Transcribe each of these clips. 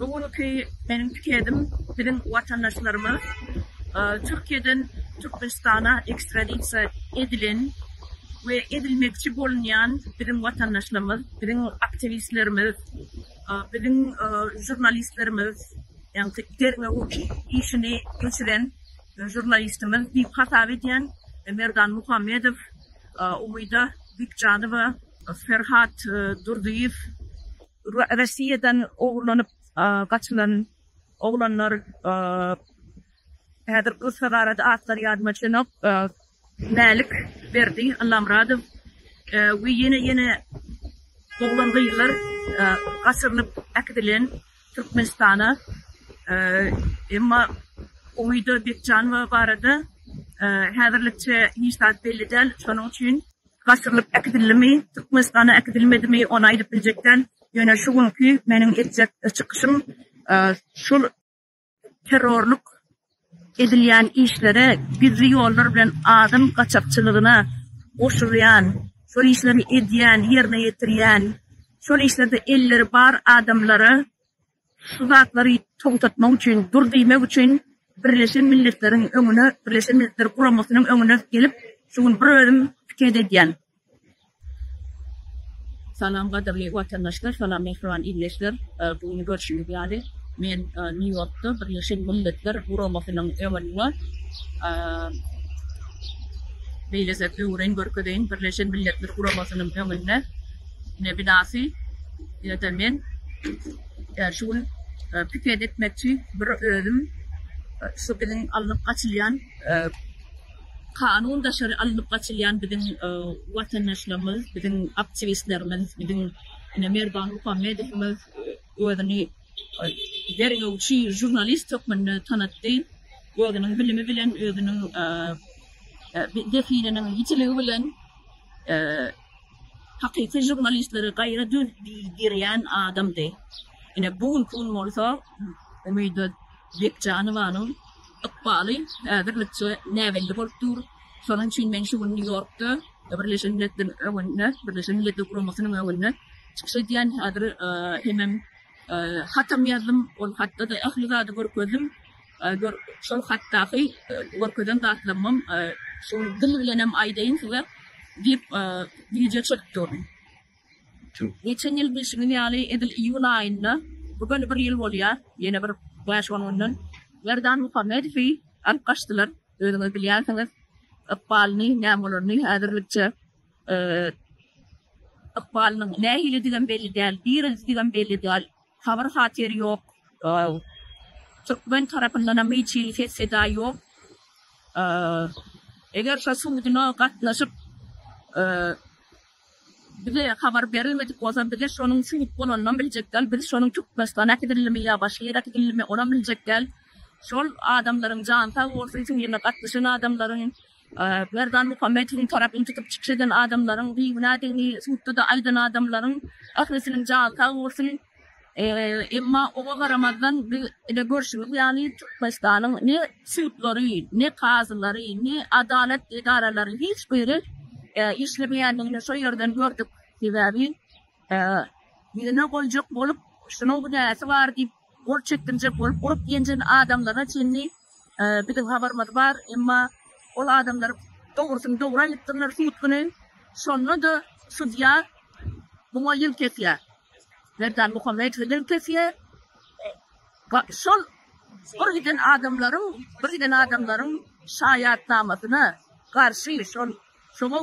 Bu günki meniň pikedim biziň watandaşlaryma Türkiýeden Türkmenistana ekstradisiýa edilen we edilmekçi bolunýan biziň watandaşlarymyz, biziň aktiwistlerimiz, biziň žurnalistlerimiz, ýagny derňewük işini geçiren žurnalistimiz diýip hasap edýän Merdan Muhammedow, Umyda Bikjanowa, Ferhat Durdyýew, Russiýadan ogurlanyp gaçylan oglanlar häzir gyssagarada atlary ýadyma düşenok, Mälik Berdi, Allamyradow we ýene ýene oglan gyzlar gaçyrylyp äkidilen Türkmenistana emma Umyda Bekjanowa barada häzirlikçe hiç zat belli däl şonuň üçin gaçyrylyp äkidildimi, Türkmenistana äkidilmedimi, ony aýdyp biljek däl, ýöne şu günki meniň etjek çykyşym şul terrorlyk edilýän işlere, gizli ýollar bilen adam gaçakçylygyna goşulýan, şol işleri edýän, ýerine ýetirýän, şol işlerde elleri bar adamlara Şu zatlary togtatmak üçin, dur diýmek üçin Birleşen Milletleriň öňüne, Birleşen Milletler Guramasynyň öňüne gelip, şu gün bir özüm piket edýän. Salam gadyrly watandaşlar, salam mähriban ildeşler. Bu gün görşüňiz ýaly, men Nýu-Ýorkda Birleşen Milletler Guramasynyň öňünde beýlese öwren görkezeýin, Birleşen Milletler Guramasynyň öňünde. Ine binasy ýa-da men şu gün piket etmekçi bir özüm şu biziň alnyp gaçylýan kanun daşary alnyp gaçylýan biziň watandaşlarymyz biziň aktiwistlerimiz biziň ine Merdan Muhammedowymyz özüni derňewçi žurnalist hökmünde tanatdy özüniň bilimi bilen özüniň zehininiň ýitiligi bilen hakyky žurnalistleri gaýra döz-dirýän adamdy. Ine, bu günki gün bolsa Umyda Bekjanowanyň ykbaly häzirlikçe näbelli bolup dur. Şonuň üçin men şu gün Nýu-Ýorkda Birleşen Milletler öňünde, Birleşen Milletler Guramasynyň öňünde çykyş edýän. Häzir hemem hatam ýazdym. Ol hatda-da ähli zady görkezdim. Gör, şol hatdaky görkezen zatlarymam şol dil bilenem aýdaýyn size diýip, bije çörtdi ony. Geçen ýyl bilşiňiz ýaly, edil iýul aýynda, bu göni bir ýyl bolýar, ýene bir bäş-on günden Merdan Muhammedowy alyp gaçdylar. Özüňiz bilýänsiňiz ykbalyny, näme bolaryny. Häzirlikçe ykbalynyň nähilidigem belli däl, direldidgem belli däl. Habar-hatyr ýok. Türkmen tarapyndanam hiç hili ses-seda ýok. Eger şo suduna gatnaşyp, bize habar berilmedik bolsa, bize şonuň sud bolanynam biljek däl. Biz şonuň Türkmenistana äkidilendimi ýa başga ýere äkidilendimi, onam biljek däl. Şol adamlaryň jany sag bolsun, şu ýerine gatnaşan adamlaryň. Berdanmuhammedowyň tarapyny tutup çykyş eden adamlaryň bigünädigini sudda-da aýdan adamlaryň ählisiniň jany sag bolsun. Emma oňa garamazdan biz ine görşümiz ýaly Türkmenistanyň ne sudlary, ne kazylary, ne adalat edaralary hiç biri işlemeýändigini şo ýerden gördük. Sebäbi ýüzüne goýjak bolup şunuň günäsi bar diýip Gol çekdirjek bolup urup-ýenjen adamlaryna çenli biziň habarymyz bar, emma ol adamlar dogrusyny dogry aýdypdyrlar sud güni. Şonda-da sudýa muňa ýyl kesýär. Merdan Muhammedowa ýyl kesýär. Şol bir giden adamlaryň, bir giden adamlaryň şaýatnamasyna garşy şol Şoňa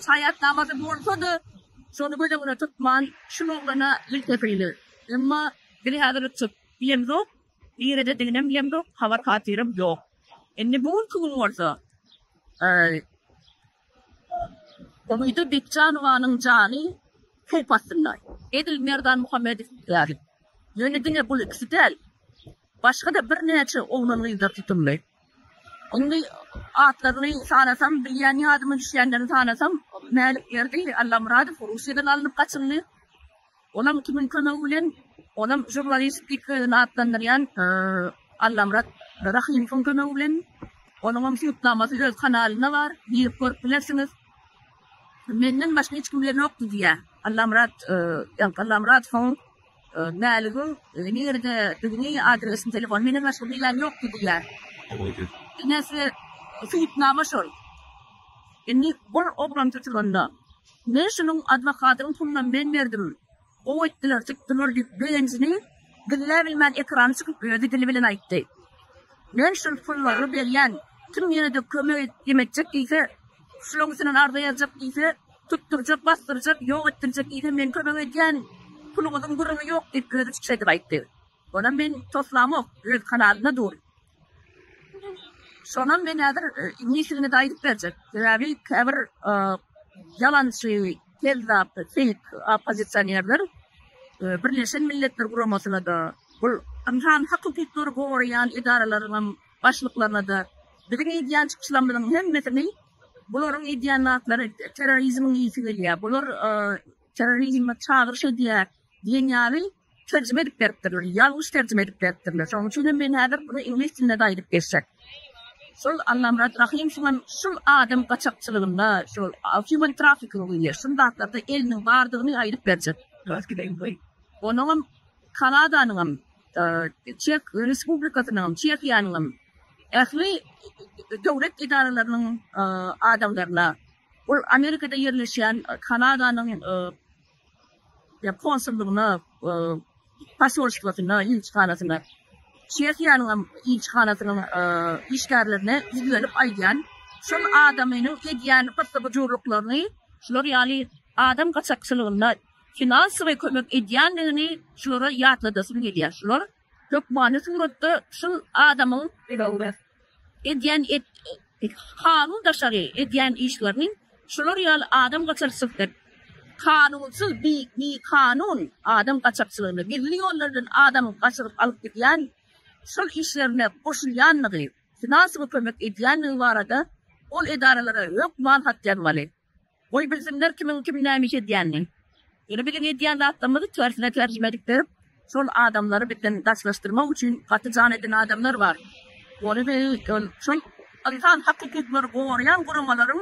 şaýatnamasy bolsa-da, şony göz öňüne tutman, şul oglana il kepildir. Emma biz häzir çyk bilemzok, niredediginem bilemzok, habar-hatyrym ýok. Indi bu günki gün bolsa, Umyda Bekjanowanyň jany howp astynda. Edil Merdan Muhammedow ýaly. Ýöne diňe bul ikisi däl, başga-da birnäçe oglan-gyzlar tutuldy. Indi atlaryny sanasam, bilýän ýadyma düşýänlerini sanasam, Mälikberdi Allamyradow Russiýadan alnyp gaçyldy. Olam kimiň kömegi bilen? Olam žurnalist diýip özüni atlandyrýan Allamyrat Rahymowyň kömegi bilen. Onuňam subutnamasy öz kanalynda bar, girip görüp bilersiňiz. Menden başga hiç kimde ýokdy diýýär. Allamyrat Allamyradowyň Mäligiň nirededigini, adresini, telefonyny menem başga bilýän ýokdy diýýär. Enesi subutnama şol. Indi ol oglan tutulanda, Men şunuň adwokatynyň pulunam men berdim. Gowy etdiler, tutdular diýip, begenjini gizläbilmän ekrana çykyp özi dili bilen aýtdy. Men şol pullary berýän. Kim ýene-de kömek edip diýip etjek diýse, şulaň üstünden arza ýazjak diýse, Tutdurjak, basdyrjak, ýok etdirjek diýsem, men kömek edýän puluňyzyň gürrüňi ýok diýip, özi çykyş edip aýtdy. Onam men toslamok, öz kanalynda dur. Şonam men häzir iňlisçesini-de aýdyp berjek. Sebäbi käbir ýalançy, kezzap, feýk oppozisionerler Birleşen Milletler Guramasyna-da, bul ynsan hak-hukuklary goraýan edaralaryňam başlyklaryna-da biziň edýän çykyşlarymyzyň hemmesini Bularyň edýän zatlary terrorizmiň ysy gelýär, bular terrorizme çagyryş edýär diýen ýaly terjime edip beripdirler, ýalňyş terjime edip beripdirler. Şonuň üçin hem men häzir muny iňlis dilinde-de aýdyp geçjek. Şol Allamyrat Rahym şuňam şul adam gaçakçylygynda, şol human trafficking diýilýär, şul zatlarda eliniň bardygyny aýdyp berjek. Onuňam Kanadanyňam Çeh Respublikasynyň, Çehiýanyňam ähli döwlet edaralarynyň adamlaryna, ol Amerikada ýerleşýän Kanadanyň konsullygyna, posolstwasyna, ilçihanasyna, Çehiýanyňam ilçihanasynyň işgärlerine ýüzlenip aýdýan, şol adamynyň edýän gyssy-gyjurlyklaryny, şular ýaly adam gaçakçylygynda, finansowy kömek edýändigini şulara ýatladasym gelýär. Şular hökmany suratda şul adamyň edýän kanun daşary edýän işlerini şular ýaly adam gaçakçysy kanunsyz bi kanun adam gaçakçylygyny gizli ýollardan adam gaçyryp alyp gidýän şol işlerine goşulýandygy finansowy kömek edýändigi barada ol edaralara hökman hat ýazmaly. Goý bilsinler kimiň kim näme iş edýänini. Ýöne biziň edýän zatlarymyzy tersine terjime edip berip, şol adamlary bizden daşlaşdyrmak üçin gaty jan eden adamlar bar. Ony biz ol şol ynsan hak hukuklary goraýan guramalaryň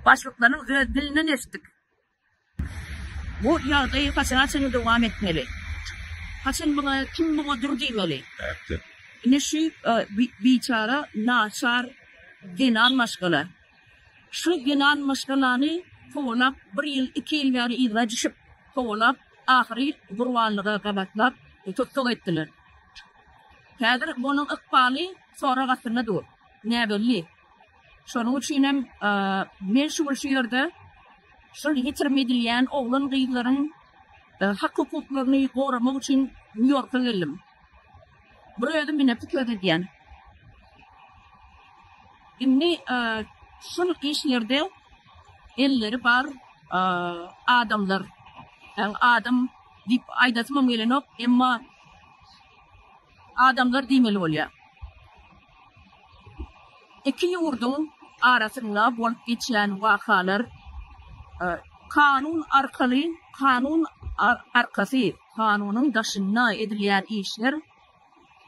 başlyklarynyň öz dilinden eşitdik. Bu ýagdaý haçana çenli dowam etmeli? Haçan muňa kim muňa dur diýmeli? Ine şu biçara naçar zenan maşgala. Şu ýylan maşgalany kowalap, bir ýyl, iki ýyl bäri yzga düşüp kowalap, ahyry gurbanlyga gabatlap tussag etdiler. Häzir onuň ykbaly sorag astynda dur. Näbelli. Şonuň üçinem men şu gün şu ýerde şol ýitirim edilýän oglan-gyzlaryň hak-hukuklaryny goramak üçin Nýu-Ýorka geldim. Bir özüm ine pikir edýän. Indi e, şul işlerde elleri bar e, adamlar. Yani adam diýip aýdasymam gelenok, emma adamlar diýmeli bolýar. Iki ýurduň arasynda bolup geçýän wakalar e, kanun arkaly, kanun arkasy Kanunyň daşynda edilýän işler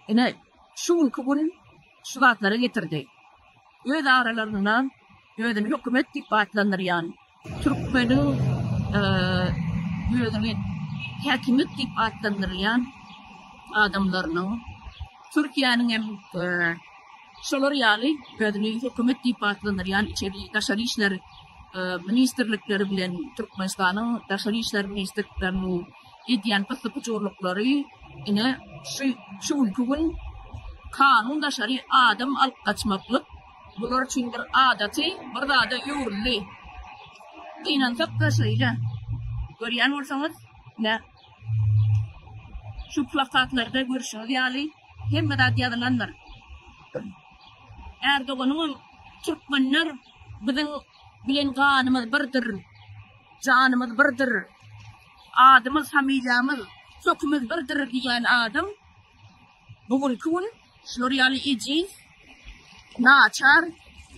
ine, şu günki gün şu zatlara getirdi. Öz aralarynda özüni hökümet diýip atlandyrýan, türkmeniň özüni häkimiýet diýip atlandyrýan adamlarynyň, Türkiýäniň hem. Şolar ýaly özüni hökümet diýip atlandyrýan içeri, daşary işler ministrlikleri bilen Türkmenistanyň daşary işler ministrlikleriniň edýän gysyp-gujurlyklary ine şu şu günki gün kanun daşary adam alyp gaçmaklyk bular üçin bir adaty bir zada öwrüldi. Gynansak-da şeýle. Görýän bolsaňyz, ine, Şu plakatlarda görşüňiz ýaly, hemme zat ýazylandyr. Ärdoganyňam Türkmenler biziň bilen ganymyz birdir, janymyz birdir, adymyz, familiýamyz, kökimiz birdir diýýän adam bu günki gün, Şular ýaly ejiz, naçar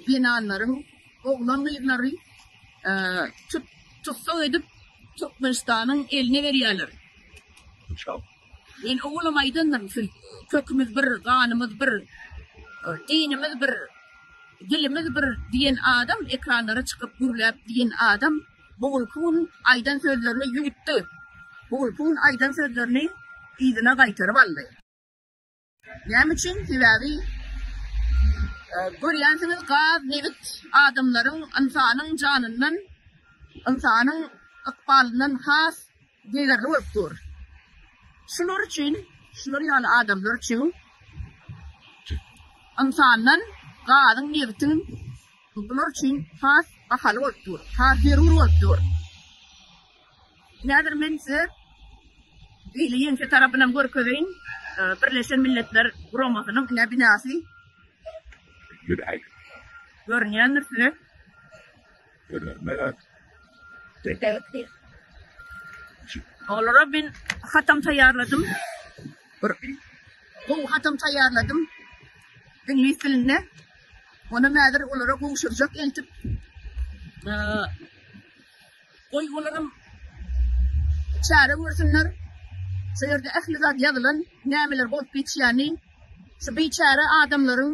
zenanlaryň oglan-gyzlary tut-tussag edip, Türkmenistanyň eline berýärler. Men owalam aýdandyryn, siz Kökümiz bir, ganymyz bir, dinimiz bir, dilimiz bir diýen adam, ekranlara çykyp gürläp diýen adam bu günki gün aýdan sözlerini ýuwutdy. Bu günki gün aýdan sözlerini yzyna gaýtaryp aldy. Näme üçin? Sebäbi görýänsiňiz gaz, nebit adamlaryň, ynsanyň janyndan, ynsanyň ykbalyndan has degerli bolup dur. Şular üçin, şular ýaly adamlar üçin ynsandan gazyň, nebitiň bular üçin has bahaly bolup dur, has zerur bolup dur. Häzir men size beýle ýeňse tarapynam görkezeýin. Birleşen Milletler Guramasynyň ine binasy. Görünýändir size. Görünmez. Döküldip. Olara men hatam taýýarladym. Bir gowy hatam taýýarladym. Iňlis dilinde. Ony häzir olara gowşurjak eltip. Goý olaram çäre görsünler. Şu ýerde ähli zat ýazylan, nämeler bolup geçýäni. Şu biçäre adamlaryň,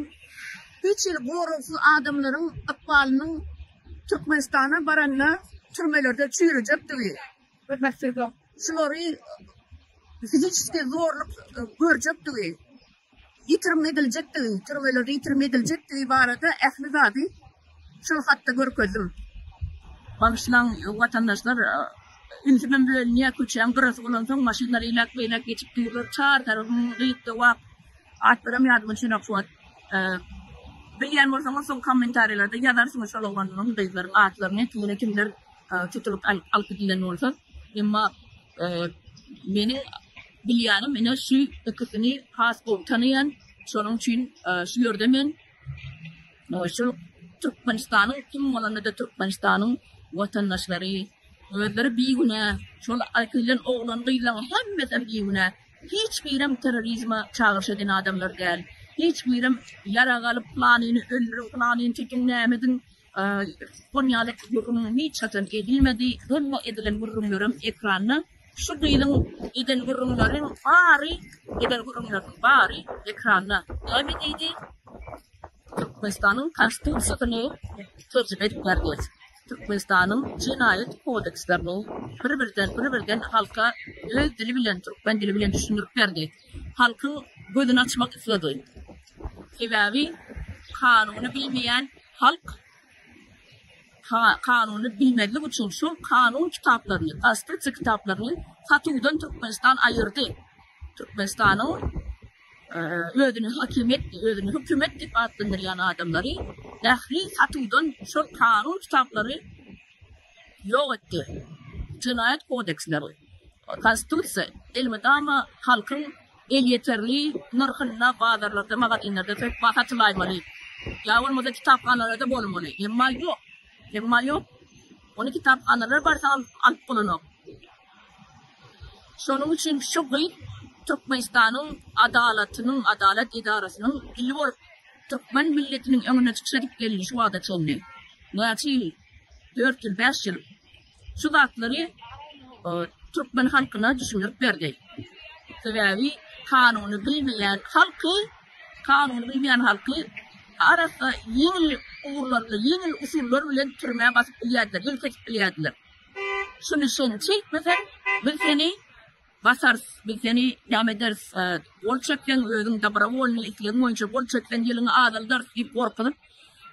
hiç hili goragsyz adamlaryň ykbalynyň Türkmenistana baranda türmelerde çüýrejekdigi, şulary fiziçiski zorluk görjekdigi, ýitirim ediljekdigi, türmeler ýitirim ediljekdigi barada ähli zady şol hatda görkezdim. Bagyşlaň watandaşlar, ünsümem bölünýär, köçäň gyrasy bolansoň maşynlar eýläk-beýläk geçip durlar, çar tarapym gyt-gowak, atlaram ýadymda çynok şu wagt. Bilýän bolsaňyz soň kommentariýalarda ýazarsyňyz şol oglanlaryň, gyzlaryň atlaryny, tutuny kimler tutulyp alyp gidilen bolsa, emma meniň bilýänim ine şu ikisini has gowy tanaýan, şonuň üçin şu ýerde men şol Türkmenistanyň kim bolanda-da Türkmenistanyň watandaşlary özleri bigünä, şol aýkylan oglan-gyzlaryň hemmesem bigünä, hiç birem terrorizme çagyryş eden adamlar däl, hiç birem ýarag alyp planyny öldüriň, planyny tütiň, näme ediň, Konyada gürrüň hiç haçan edilmedi, doly edilen gürrüňlerem ekranda. Şu gyzyň eden gürrüňleriň bary, eden gürrüňleriniň bary ekranda. Näme diýdi? Türkmenistanyň Konstitusiýasyny terjime edip berdi. Türkmenistanyň jenaýat kodekslerini bir-birden, bir-birden halka öz dili bilen, türkmen dili bilen düşündirip berdi. Halkyň gözüni açmak isledi. Sebäbi kanuny bilmeýän, Halk kanuny bilmezlik üçin şol kanun kitaplaryny, konstitusiýa kitaplaryny satuwdan Türkmenistan aýyrdy. Türkmenistanyň özüni hakimiýet, özüni hökümet diýip atlandyrýan adamlary ähli satuwdan şol kanun kitaplary ýok etdi. Jenaýat kodeksleri, konstitusiýa elmydama halkyň elýeterli nyrhynda bazarlarda, magazinlerde söz-ba satylaýmaly, ýa bolmasa kitaphanalarda bolmaly. Emma ýok. Emma ýok. Ony kitaphanalar barsa alyp bolanok. Şonuň üçin şu gyz Türkmenistanyň adalatynyň, adalat edarasynyň ili bolup, türkmen milletiniň öňüne çykyş edip geldi şu wagta çenli. Näçe ýyl? Dört ýyl, bäş ýyl. şu zatlary türkmen halkyna düşündirip berdi. Sebäbi kanuny bilmeýän halky, kanuny bilmeýän halky arassa ýeňil ugurlar bilen, ýeňil usullar bilen türmä basyp bilýärdiler, ýelk edip bilýärdiler. Şuny sen çekmesen, biz seni Basarys, biz seni näme ederis, gol çekseň, özüň dobrowolnyý islegiň boýunça gol çekseň, ýylyňy azaldarys diýip gorkuzyp,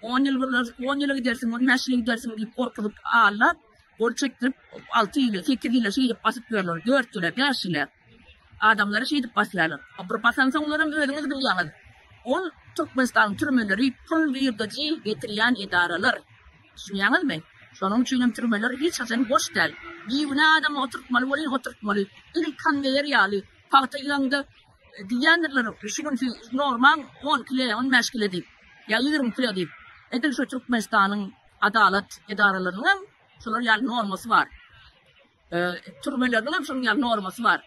on ýyl gyrnar, on ýyla gidersiň, on bäş ýyla gidersiň diýip gorkuzyp, aldap, gol çekdirip, alty ýyla, sekiz ýyla şeýdip basyp ýörler, dört ýyla, bäş ýyla. Adamlary şeýdip basýarlar. Bir basansoňlaram özüňiz bilýäňiz, ol Türkmenistanyň türmeleri pul girdejy getirýän edaralar. Düşünýäňizmi? Şonuň üçinem türmeler hiç haçan boş däl. Bigünä adamy oturtmaly welin oturtmaly. Edil konweýer ýaly. Pagta ýygyňda diýýändirler, şu gün siz normaň on kile, on bäş kile diýip. Ýa ýigrimi kile diýip. Edil şu Türkmenistanyň adalat edaralarynyň hem şular ýaly normasy bar. Türmeleriniň hem şonuň ýaly normasy bar.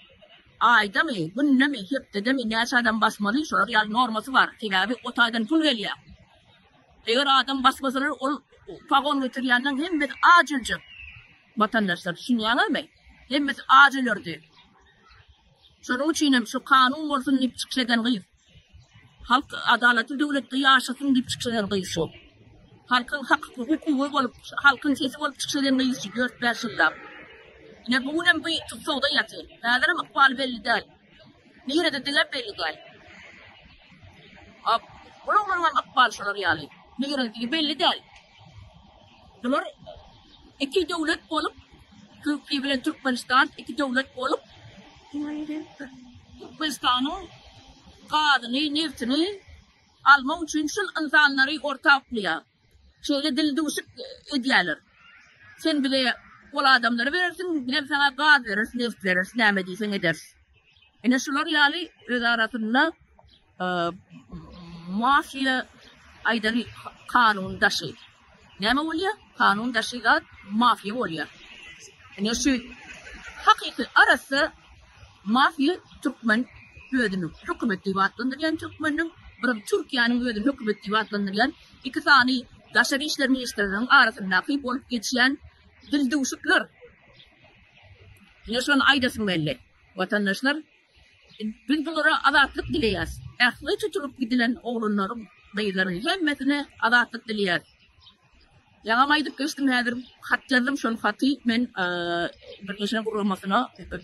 Aýdamy, günnemi, hepdedemi näçe adam basmaly, şolar ýaly normasy bar. Sebäbi o taýdan pul gelýär. Eger adam basmasalar, ol pagon getirýänleň hemmesi aç öljek. Watandaşlar, düşünýäňizmi? Hemmesi aç ölerdi. Şonuň üçin hem şu kanun bolsun diýip çykyş eden gyz. Halk adalatly döwletde ýaşasyn diýip çykyş eden gyýyşy. Halkyň hak hukugy bolup, halkyň sesi bolup çykyş eden gyýyşy dört-bäş ýyllap. Ine bu günem bu tussagda ýatyr. Häzirem ykbaly belli däl. Nirede diňem belli däl. Ap, bularyňam ykbaly şolar ýaly. Nirededigi belli däl. Bular iki döwlet bolup Türkiýe bilen Türkmenistan iki döwlet bolup Türkmenistanyň gazyny neftini almak üçin şul ynsanlary orta uklaýar. Şeýle dil duşik edýäler. Sen bile ol adamlary berersiň bizem saňa gaz bereris neft bereris näme diýseň ederis. Ine şular ýaly öz arasynda Mafiýa aýdan kanun daşy. Näme bolýa? Kanun daşy zat mafiýa bolýa. Ine şu hakyky arassa mafiýa türkmen özüni hökümet diýip atlandyrýan türkmeniň birim Türkiýäniň özüni hökümet diýip atlandyrýan iki sany daşary işler ministrleriniň arasyndaky bolup geçýän dildüwşükler. Ine şony aýdasym geldi. Watandaşlar Biz bulara azatlyk dileýäs. Ähli tutulyp gidilen oglanlaryň, gyzlaryň hemmesine azatlyk dileýäs. Ýaňam aýdyp geçdim, häzir hat ýazdym. Şol haty men Birleşen Guramasyna,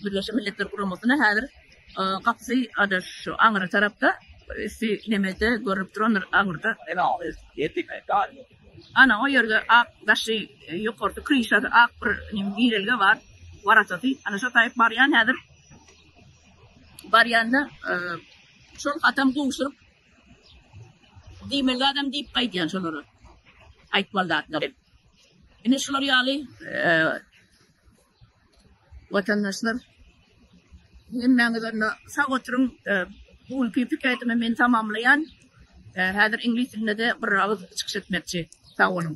Birleşen Milletler Guramasyna häzir gapysy ada şu aňyra tarapda üsti nemede görünip duran aňyrda. Ana o ýerde ak daşy ýokarda kryşasy ak bir girelge bar. Waratasy ana şo taýyp barýan häzir. Barýanda şol atam gowşuryp diýmeli zadam diýip gaýdýan şolara. Aýtmaly zatlar. Ine şular ýaly watandaşlar hemmäňiz onda sag oturyň. Bu günki pikirimi men tamamlaýan. Häzir iňlis dilinde-de bir agyz çykyş etmekçi. Sag boluň.